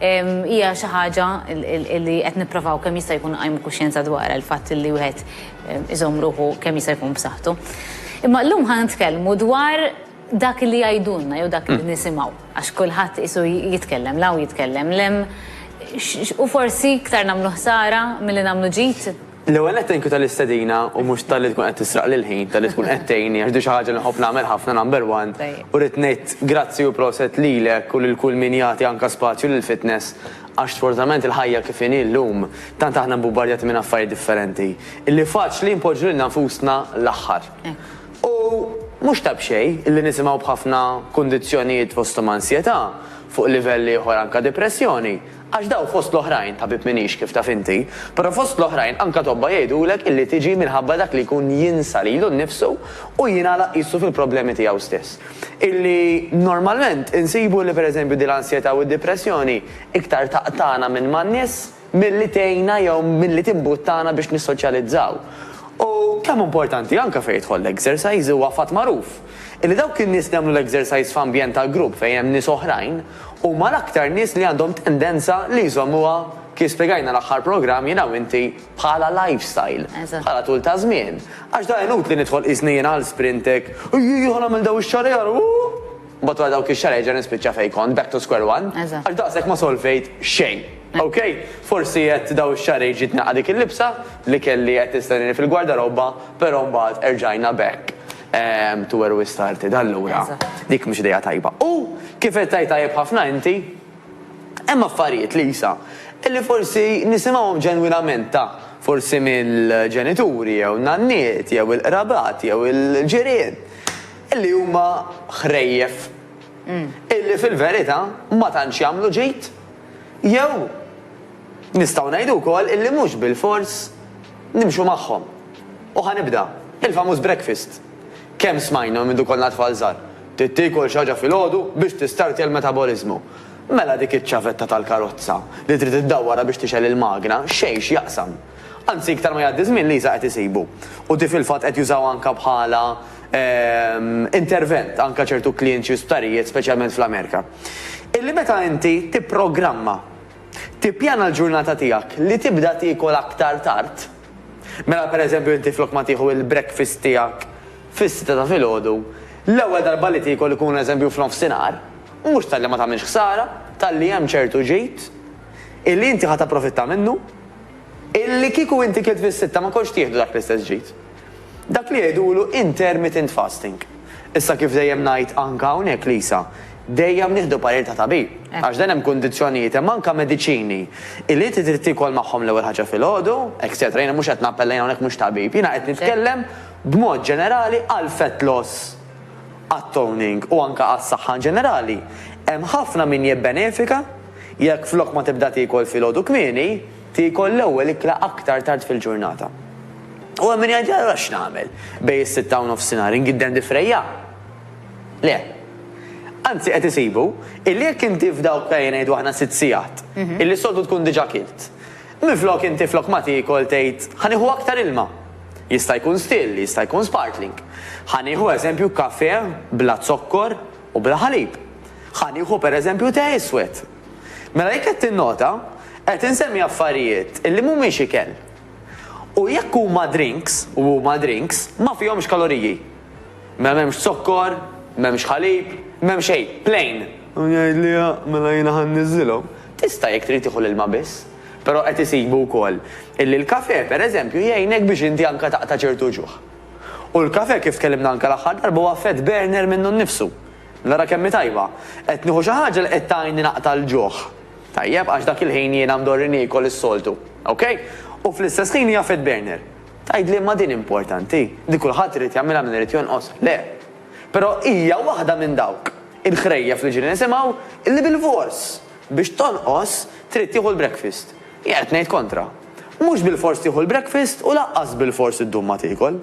Hija xi ħaġa li qed nipprovaw kemm jista' jkun nqajmu kuxjenza dwarha, il-fatt li wieħed iżomm ruħu kemm jista' jkun b'saħħtu. Imma llum ħa nitkellmu dwar dak li jgħidulna jew dak li nisimgħu, għax kulħadd qisu jitkellem 'l hawn jitkellem 'l hemm, u forsi iktar nagħmlu ħsara milli nagħmlu ġid. L-ewwel nett thank you tal-istedina u mhux talli tkun qed tisraqli l-ħin, talli tkun qed tgħinni għax din xi ħaġa li nħobb nagħmel ħafna number one u rrid ngħid grazzi u proset lilek u lil kull min jagħti anke spazju lill-fitness għax sfortunatament il-ħajja kif inhi llum tant aħna mbubardjati minn affarijiet differenti illi faċli npoġġu lilna nfusna l-aħħar. U mhux ta' b'xejn illi nisimgħu b'ħafna kundizzjonijiet fosthom ansjetà, fuq livell ieħor anke dipressjoni, Għax dawn fost l-oħrajn, tabib m'iniex kif taf inti, però fost l-oħrajn anke tobba jgħidulek illi tiġi minħabba dak li jkun jinsa lilu nnifsu u jingħalaq qisu fil-problemi tiegħu stess. Illi normalment insibu li pereżempju din l-ansjetà u d-dipressjoni iktar taqtagħna minn man-nies milli tgħinna jew milli timbuttana biex nissoċjalizzaw. U kemm importanti anke fejn jidħol l-exercise, huwa fatt magħruf illi dawk in-nies li jagħmlu l-exercise f'ambjent ta' grupp fejn hemm nies oħrajn, huma l-aktar nies li għandhom tendenza li jżommuha, kif spjegajna l-aħħar programm jiena u inti, bħala lifestyle, bħala tul ta' żmien. Għax da inutli nidħol qisni jiena għal Sprintec, ejjejja ħa nagħmel dawn ix-xahrejn ara ooh! Mbagħad wara dawk ix-xahrejn nerġa' nispiċċa fejn kont, back to square one, għax daqshekk ma solvejt xejn. Ok? Forsi għedt dawn ix-xahrejn ġiet nilqa' dik il-libsa li kelli qed nistennieni fil-gwardarobba, però mbagħad erġajna back. Ehm, tu were we started, allura. Dik mhux idea tajba. U kif qed tgħid tajjeb ħafna inti, hemm affarijiet li jisa illi forsi nisimgħuhom ġenwinament ta' forsi mill-ġenituri jew nanniet jew il-qrabat jew il-ġirien illi huma ħrejjef mm. illi fil-verità ma tantx jagħmlu ġid jew nistgħu ngħidu wkoll illi mhux bil-fors Nimxu magħhom. U ħa nibda. Il-famuż breakfast. Kemm smajnhu mindu konna tfal żgħar. Trid tiekol xi ħaġa filgħodu biex tistartja l-metaboliżmu. Mela dik iċ-ċavetta tal-karozza li trid iddawwarha biex tixgħel il-magna, xejn x'jaqsam. Anzi iktar ma jgħaddi żmien Lisa qed isibu. U di fil-fatt qed jużawha anke bħala intervent anke ċertu klients xi sptarijiet speċjalment fl-Amerika. Illi meta inti tipprogramma Tippjana l-ġurnata tiegħek li tibda tiekol aktar tard? Mela pereżempju inti flok ma tieħu il-breakfast tiegħek fis-sitta ta' filgħodu, l-ewwel darba li tiekol ikun eżempju f'nofsinhar, mhux talli ma tagħmilx ħsara, talli hemm ċertu ġid illi inti ħa tapprofitta minnu, illi kieku inti kilt fis-sitta ma kontx tieħdu dak l-istess ġid. Dak li jgħidulu intermittent fasting. Issa kif dejjem ngħid anka hawnhekk Lisa, dejjem nieħdu parir ta' tabib. Għax dan hemm kundizzjonijiet hemm anka mediċini li inti trid tiekol magħhom l-ewwel ħaġa filgħodu, etcetera. Jiena mhux qed nappella jien hawnhekk mhux tabib. Jiena qed nitkellem b'mod ġenerali għal fat loss għat toning u anka għas-saħħa in ġenerali. Hemm ħafna min jibbenefika jekk flok ma tibda tiekol filgħodu kmieni, Tiekol l-ewwel ikla aktar tard fil-ġurnata. U hemm min jgħid, allura x'nagħmel? Bejn is-sitta u nofsinhar ingidden difrejja? Le. Anzi qed isibu illi jekk inti f'dawk ejja ngħidu aħna sitt sigħat, illi s-soltu tkun diġà kilt, minflok inti flok ma tiekol tgħid ħa nieħu aktar ilma. Jista' jkun still, jista' jkun sparkling. Ħa nieħu eżempju kafè bla zokkor u bla ħalib. Ħa nieħu pereżempju te iswed. Mela jekk qed tinnota, qed insemmi affarijiet li mhumiex ikel. U jekk huma drinks, u huma drinks, ma fihomx kaloriji. Mela m'hemmx zokkor, m'hemmx ħalib, m'hemm xejn, plain. U jgħid li ha, mela jiena ħa nniżżilhom. Tista' jekk trid tieħu l-ilma biss. Però qed isibu wkoll illi l-kafè, per eżempju, jgħinek biex inti anke taqta' ċertu ġuħ. U l-kafè kif tkellimna anke l-aħħar darba huwa fat burner minnu nnifsu. Nara kemm hi tajba! Qed nieħu xi ħaġa li qed tgħinni naqta' l-ġuħ. Tajjeb, għax dak il-ħin jiena mdorri niekol is-soltu. Ok? U fl-istess ħin hija fed burner. Tgħidli imma din importanti? Din kulħadd irid jagħmilha min irid jonqos? Le. Però hija waħda minn dawk il-ħrejjef li ġieli nisimgħu li bilfors biex tonqos trid tieħu l-breakfast. Jien qed ngħid kontra. Mhux bilfors tieħu l-breakfast u lanqas bilfors iddum ma tiekol.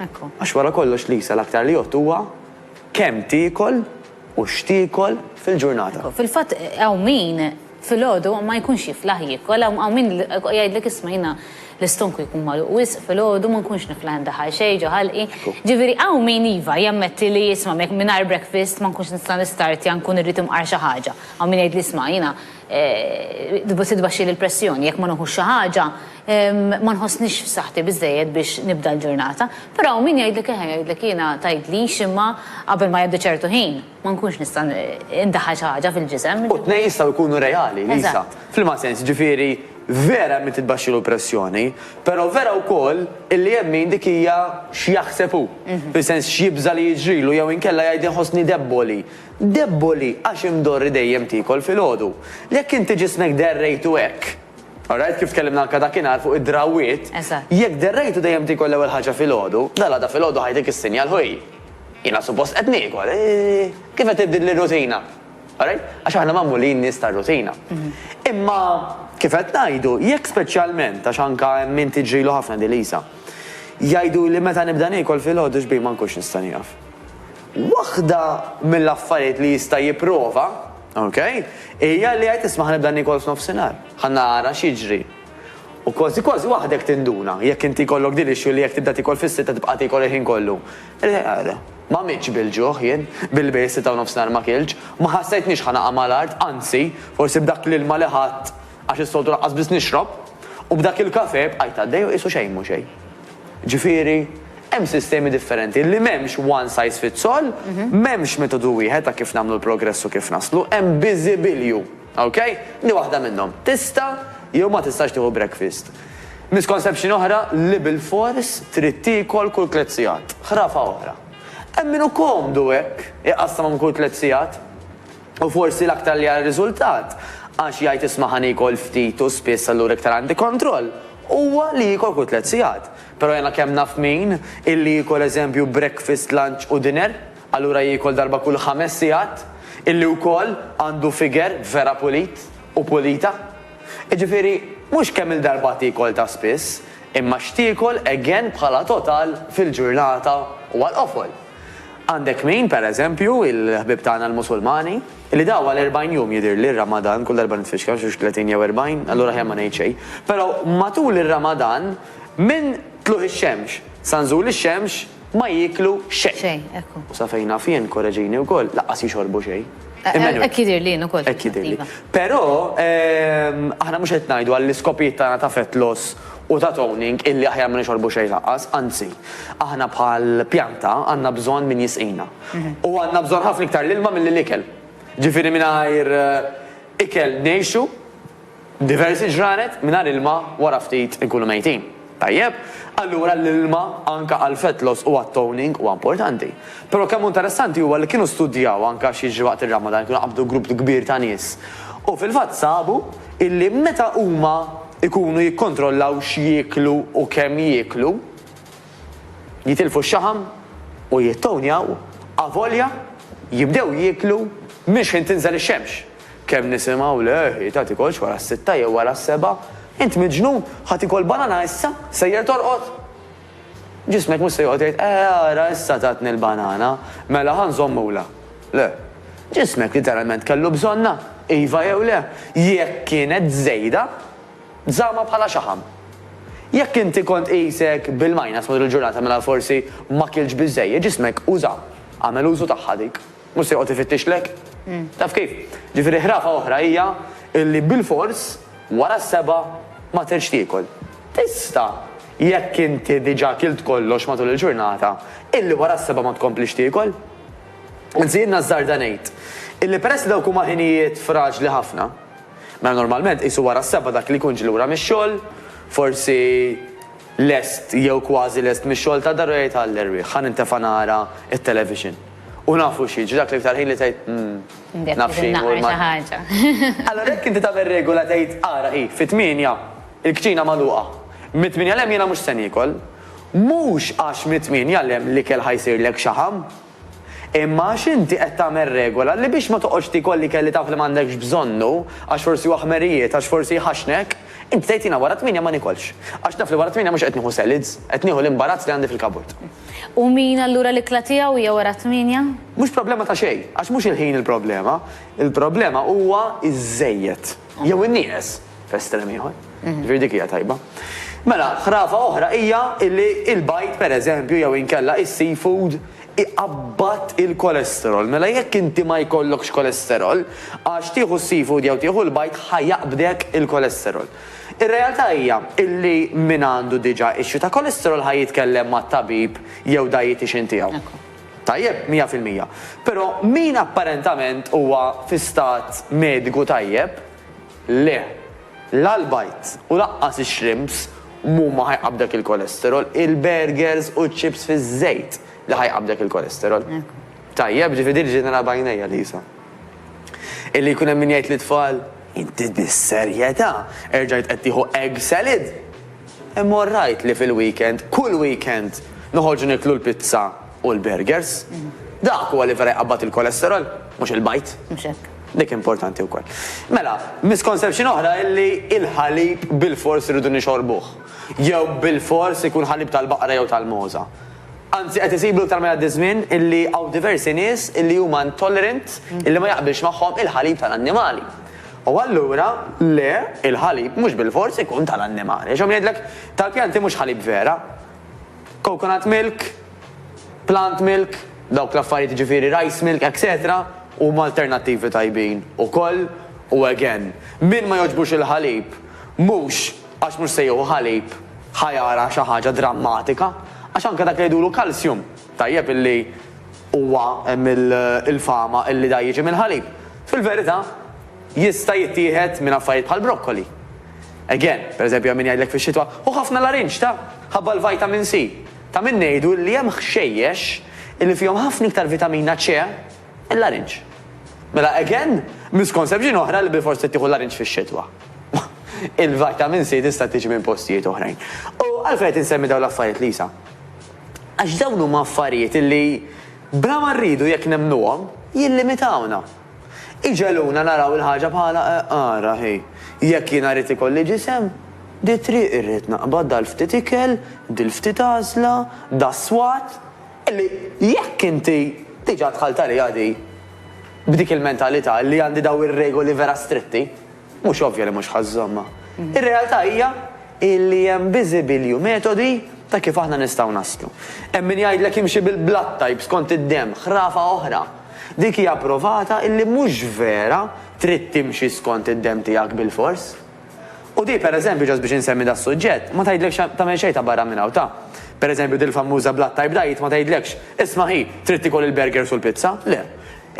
Għax wara kollox Lisa l-aktar li jgħodd huwa Kemm tiekol u x'tiekol fil-ġurnata? Fil-fatt hawn min filgħodu ma jkunx jiflaħ jiekol, hawn min jgħidlek isma' jiena l-istonku jkun magħluq wisq filgħodu ma nkunx niflaħ indaħħal xejn ġo ħalqi. Ġifieri hawn min iva jammetti li isma' mingħajr breakfast ma nkunx nista' nistartja nkun irrid imqar xi ħaġa. Hawn min jgħidli isma' jiena Tbaxxi li l-pressjoni, jekk ma nuħux xi ħaġa ma nħossnix f'saħħti biżżejjed biex nibda l-ġurnata. Però hawn min jgħidlek eħe, jgħidlek jiena tgħidlix imma qabel ma jgħaddi ċertu ħin ma nkunx nista' ndaħħal xi ħaġa fil-ġisem. U t-tnejn jistgħu jkunu reali, Lisa. F'liema sens? Jiġifieri vera hemm min titbaxxilu l-pressjoni, però vera wkoll illi hemm min dik hija x'jaħseb hu, fis-sens x'jibża' li jiġrilu jew inkella jgħid inħossni debboli. Debboli għax imdorri dejjem tiekol filgħodu. Jekk inti ġismek derrejtu hekk. Alright, kif tkellimna anke dakinhar fuq id-drawwiet. Eżatt. Jekk derrejtu dejjem tiekol l-ewwel ħaġa filgħodu, dalgħada filgħodu ħajtik issinjal ħuj. Jiena suppost qed niekol. Kif qed tibdilli r-rutina. Alright? Għax aħna magħmulin nies tar-rutina. Imma kif qed ngħidu, jekk speċjalment, għax anke hemm min tiġrilu ħafna din Lisa. Jgħiduli meta nibda niekol filgħodu xbih ma nkunx nista' nieqaf. Waħda mill-affarijiet li jista' jipprova, ok, hija li jgħid isma' ħa nibda niekol f'nofsinhar, ħa nara x'jiġri. U kważi kważi waħdek tinduna, jekk inti jkollok din l-issue li jekk tibda tiekol fis-sitta tibqa' tiekol il-ħin kollu. Ma mitx bil-ġuħ jien, billi s-sitta u nofsinhar ma kiltx, ma ħassejtnix ħa naqa' mal-art, anzi, forsi b'dak l-ilma li ħadt, għax is-soltu lanqas biss nixrob, u b'dak il-kafè bqajt għaddej u qisu xejn mhu xejn. Ġifieri, hemm sistemi differenti li m'hemmx one size fits all, m'hemmx metodu wieħed ta' kif nagħmlu l-progress u kif naslu, hemm biżibilju. Ok? Di waħda minnhom. Tista' jew ma tistax tieħu breakfast. Misconception oħra li bilfors trid tiekol kull tliet sigħat. Ħrafa oħra. Hemm min hu komdu hekk, iqassam għom kull tliet sigħat. U forsi l-aktar li għar-riżultat, għax jgħid isma' ħa niekol ftit u spiss allura iktar għandi kontroll, huwa li jiekol kull tliet sigħat. Però jiena kemm naf min, illi jiekol eżempju breakfast, lunch u dinner, allura jiekol darba kull ħames sigħat, illi wkoll għandu figure vera pulit u pulita. Jiġifieri, mhux kemm il-darba tiekol ta' spiss, imma x'tiekol again bħala total fil-ġurnata u għall-qofol. Għandek min, per eżempju, il-ħbieb tagħna l-Musulmani, li daw għal erbgħin jum jidhirli r-Ramadan, kull darba nitfixkel xi tletin jew erbgħin, allura aħjar ma ngħid xejn. Però matul ir-Ramadan minn tluq ix-xemx sa nżul ix-xemx ma jieklu xejn. Xejn, ekku. U sa fejn naf jien, korreġini wkoll, lanqas jixorbu xejn. Emmanuel. Hekk jidhirli jien ukoll. Hekk jidhirli. Però aħna mhux qed ngħidu għall-iskopijiet tagħna ta' fett loss u ta' toning illi aħjar ma nixorbu xejn lanqas, anzi, aħna bħal pjanta għandna bżonn min jisqina. U għandna bżonn ħafna iktar l-ilma milli l-ikel. Ġifieri mingħajr ikel ngħixu diversi ġranet, mingħajr ilma wara ftit inkunu mejtin. Tajjeb? Allura l-ilma anke għall-fat loss u għat-toning huwa importanti. Però kemm hu interessanti huwa li kienu studjaw anke x'jiġri waqt ir-Ramadan, kienu qabdu grupp kbir ta' nies u fil-fatt sabu, illi meta huma jkunu jikkontrollaw x'jieklu u kemm jieklu, jitilfu x-xaħam u jittownjaw avolja jibdew jieklu minn xħin tinżel ix-xemx. Kemm nisimgħu le ħita tikolx wara s-sitta jew wara s-sebgħa, int miġnun, ħa tikol banana issa, sejjer torqod? Ġismek mhux se joqgħod jgħid, Eh, ara, issa tatni l-banana, mela ħa nżommulha. Le. Ġismek literalment kellu bżonnha, iva jew le. Jekk kienet żejda, żammha bħala xaħam. Jekk inti kont qisek bil-minus matul il-ġurnata mela forsi ma kiltx biżżejjed, ġismek uża, għamel użu tagħha dik. Mhux se joqgħod ifittixlek. Taf kif? Ġifieri ħrafa oħra hija illi bilfors wara s-sebgħa ma tridx tiekol. Tista', jekk inti diġà kilt kollox matul il-ġurnata, illi wara s-sebgħa ma tkomplix tiekol. Anzi jien nażżarda ngħid illi peress li dawk huma ħinijiet fraġli ħafna, mela normalment qisu wara s-sebgħa dak li jkun ġie lura mix-xogħol, forsi lest jew kważi lest mix-xogħol tad-dar u jgħid għall-erwieħ ħa nintefa' nara t-television. U nafu xi jiġri dak l-iktar ħin li tgħid, 'Umm, naf xi jmur mal-. Allura jekk inti tagħmel regola tgħid, 'Ara hi, fit-tmienja, il-kċina magħluqa. Mit-tmienja 'l hemm jiena mhux se niekol. Mhux għax mit-tmienja 'l hemm l-ikel ħa jsirlek xaħam. Imma għax inti qed tagħmel regola li biex ma toqgħodx tiekol l-ikel li taf li m'għandekx bżonnu, għax forsi huwa ħmerijiet, għax forsi jħaxxnek, inti tgħid 'Jiena wara t-tmienja ma niekolx. Għax naf li wara t-tmienja mhux qed nieħu salads, qed nieħu l-imbarazz li għandi fil-kaburt. U min allura l-ikla tiegħu hija wara t-tmienja? Mhux problema ta' xejn, għax mhux il-ħin il-problema, il-problema huwa iż-żejjed jew in-nieqes f'estrem ieħor. Ġifieri dik hija tajba. Mela, ħrafa oħra hija li l-bajd pereżempju jew inkella is-seafood iqabbad il-kolesterol. Mela jekk inti ma jkollokx kolesterol, għax tieħu s-seafood jew tieħu l-bajd ħa jaqbdek il-kolesterol. Ir-realtà hija illi min għandu diġà issue ta' cholesterol ħa jitkellem mat-tabib jew dietician tiegħu. Tajjeb, mija fil-mija. Però min apparentament huwa fi stat mediku tajjeb, le. La l-bajd u lanqas ix-shrimps mhuma ħa jqabbdek il-cholesterol, il-burgers u ċ-chips fiż-żejt li ħa jqabbdek il-cholesterol. Tajjeb, ġifieri din il-ġenerali b'għajnejha, Lisa. Illi jkun hemm min jgħid lit-tfal, Inti bis-serjetà erġajt qed tieħu egg salad? Imma orrajt li fil-weekend, kull weekend, noħorġu nieklu l-pizza u l-burgers. Dak huwa li vera jqabbad il-cholesterol, mhux il-bajd. Mhux hekk. Dik importanti wkoll. Mela, misconception oħra hi li l-ħalib bilfors irridu nixorbuh. Jew bilfors ikun ħalib tal-baqra jew tal-mogħża. Anzi qed isibu iktar ma jgħaddi żmien illi hawn diversi nies illi huma intolerant illi ma jaqbilx magħhom il-ħalib tal-annimali. U allura le, il-ħalib mhux bilfors ikun tal-annimali. Għax hawn min jgħidlek tal-pjanti mhux ħalib vera. Coconut milk, plant milk, dawk l-affarijiet jiġifieri rice milk etc. Huma alternattivi tajbin ukoll u again, min ma jogħġbux il-ħalib mhux Għax mhux se jieħu ħalib ħa jara xi ħaġa drammatika, għax anke dak li jgħidulu calcium, tajjeb illi huwa hemm il-fama illi da jiġi mill-ħalib, fil-verità jista' jittieħed minn affarijiet bħal broccoli. Again, per eżempju hemm min jgħidlek fix-xitwa, ħu ħafna larinġ ta? ħabba l-vitamin C. Ta' min ngħidu illi hemm ħxejjex illi fihom ħafna iktar vitamina C, Il-larinġ. Mela again, misconception oħra li bilfors trid tieħu l-larinġ fix-xitwa. Il-vitamin C tista' tiġi minn postijiet oħrajn. U għalfejn qed insemmi dawn l-affarijiet, Lisa? Għax dawn huma affarijiet li bla ma rridu jekk nemmnuhom, jillimitawna. Iġegħluna naraw il-ħaġa bħala eh, ara hi, jekk jiena rrid ikolli ġisem, di triq irrid naqbad dal-ftit ikel, dil-ftit għażla, das-swat, Li jekk inti diġà dħalt għaliha di b'dik il-mentalità li għandi dawn ir-regoli vera stritti, mhux ovvja li mhux ħa żżommha. Ir-realtà hija li hemm biżibilju metodi ta' kif aħna nistgħu naslu. Hemm min jgħidlek imxi bil-blood type skont id-demm, ħrafa oħra. Dik hija provata li mhux vera trid timxi skont id-demm tiegħek bilfors. U di, per eżempju, just biex insemmi das-suġġett, ma tgħidlekx tagħmel xejn ta' barra minn hawn ta'. Per eżempju, dil-fammuża Blood Type Diet ma tgħidlekx, isma' hi, trid tiekol il-burgers u l-pizza, le.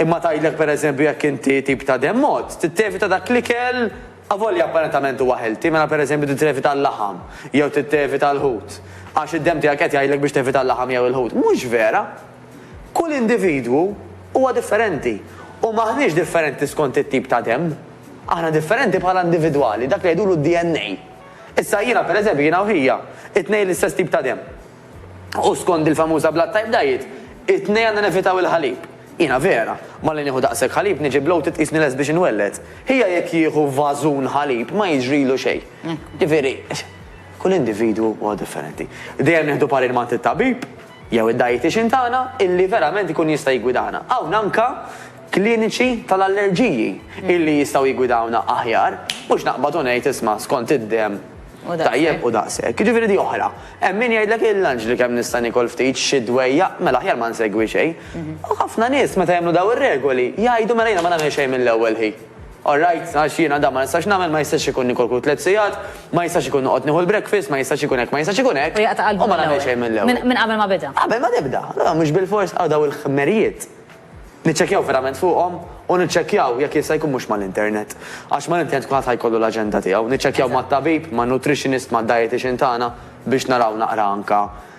Imma tgħidlek per eżempju jekk inti tip ta' demm għodd, trid tevita dak l-ikel avolja apparentament huwa healthy, mela per eżempju trid tevita l-laħam jew trid tevita l-ħut għax id-demm tiegħek qed jgħidlek biex tevita l-laħam jew il-ħut. Mhux vera! Kull individwu huwa differenti u m'aħniex differenti skont it-tip ta' demm. Aħna differenti bħala individwali, dak li jgħidulu d-DNA. Issa jiena, pereżempju, jiena u hija, it-tnejn l-istess tip ta' demm. U skond il-famuża blood type diet, it-tnejn għandna nevitaw il-ħalib. Jiena vera, malli nieħu daqshekk ħalib niġi bloated qisni lest biex inwelled. Hija jekk jieħu vażun ħalib ma jiġrilu xejn. Ġifieri, kull individwu huwa differenti. Dejjem nieħdu parir m'għand it-tabib, Jew id-dietician tagħna illi verament ikun jista' jiggwidana. Hawn anke kliniċi tal-allerġiji illi jistgħu jiggwidawna aħjar, mhux naqbad u ngħid isma' skont id-demm tajjeb u daqshekk. Jiġifieri di oħra. Hemm min jgħidlek il-lanġli kemm nista' niekol ftit, xi dwejjaq, mela aħjar ma nsegwi xejn. U ħafna nies meta jagħmlu dawn ir-regoli jgħidu mela jiena ma nagħmel xejn mill-ewwel hi. All right, għax jiena dan ma nistax nagħmel, ma jistax ikun nikolklu tliet sigħat, ma jistax ikun noqgħod nieħu l-breakfast, ma jistax ikun hekk, ma jistax ikun hekk. U jaqta' qalbu minn l-ewwel. U ma nagħmel xejn mill-ewwel. Minn qabel ma beda. Qabel ma tibda. Allura mhux bilfors hawn dawn il-ħmerijiet niċċekkjaw verament fuqhom u niċċekkjaw jekk jista' jkun mhux mal-internet. Għax mal-internet kulħadd ħa jkollu l-aġenda tiegħu. Niċċekkjaw mat-tabib, man-nutritionist, mad-dietician tagħna biex naraw naqra anke